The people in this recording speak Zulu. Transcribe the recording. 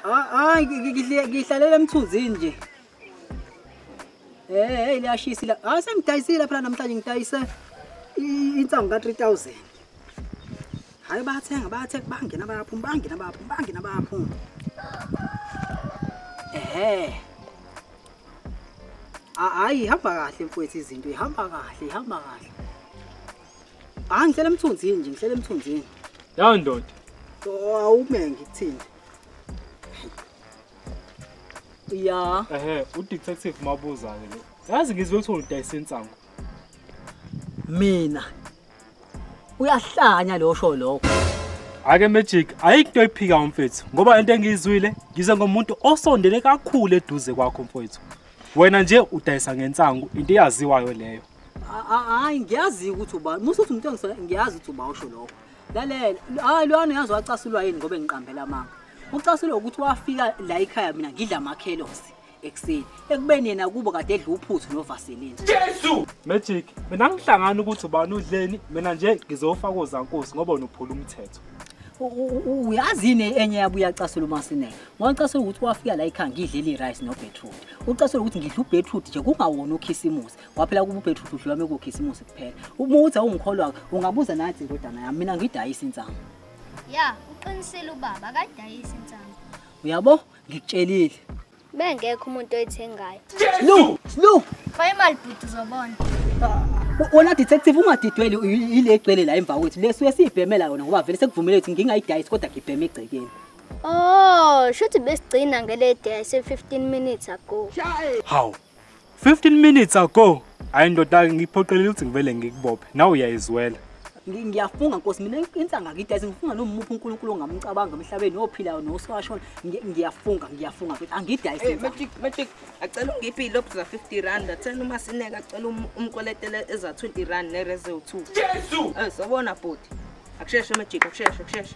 Hayi ngihlalele emthunzini nje. Eh hey liyashisa la. Hayi sengidayisile phela namhlanje ngidayise insangu ka 3000. Hayi bathenga bathe bangena bayaphuma bangena bayaphuma bangena bayaphuma. Eh. Hayi hamba kahle mfowethu izinto ihamba kahle ihamba kahle. Hayi ngihlele emthunzini nje, ngihlele emthunzini. Ya ndoda. Awume ngikuthini. Ya. Ehhe, udetective mabuza ke lo. Yazi ngizwe ukuthi udayisa insangu. Mina. Uyahlanya lo sho lokho. Ake magic ayikho oyiphika umfethu ngoba into engiyizwile ngize ngomuntu osondele kakhulu eduze kwakho mfethu. Wena nje udayisa ngensangu into eyaziwayo leyo. hayi ngiyazi ukuthi uba musa uthi umuntu engisona ngiyazi ukuthi uba usho lokho lalela hayi lwana uyazi wacasulwa yini ngoba engiqambela amanga ucasulwa ukuthi wafika la ikhaya mina ngidla amakhelosi ekuseni ekubeni yena kubo kade edla uphuthu novaselini jesu magic mina ngihlangana ukuthi ubani udleni mina nje ngizofa kozankosi ngoba unophula umthetho uyazini enye yabo uyacasula umasineke ngicasula ukuthi wafika la ikhaya ngidlela i-rice no-beetroot ucasula ukuthi ngidla u-beetroot nje kungawona ukhisimusi waphela kuba ubhethu uhluhlu lwami kukhisimusi kuphela uma uthi awungikholwa ungabuza nathi indodana yami mina ngidayisa insangu ya uqinisile ubaba akadayisa insangu uyabo ngikutshelile bengekho umuntu oyithengayo slu slu fa imali bhuti uzobona wona detective ungadidweli yile egcwele la emva kwethu leso esiyibhemela yona ngoba vele sekuvumele ukuthi ngingayidayisi kodwa ngibheme egcekeni Oh, shuthi besigcina ngele day se 15 minutes ago. Hawu, 15 minutes ago hayi ndoda ngiphoqelile ukuthi ngivele ngikubophe nawe uyayizwela ngiyafunga nkosi mina insanga kithi asingifunga nomuphi uNkulunkulu ongamcabanga emhlabeni ophilayo nosashona ngiyafunga ngiyafunga ukuthi angidayise eh, magic magic acela ungiphi ilob za 50 rand athena uma sineka acela um, umkweletele eza 20 rand ne rezo 2 Jesu eh sobona bhuti akusheshe magic akusheshe akusheshe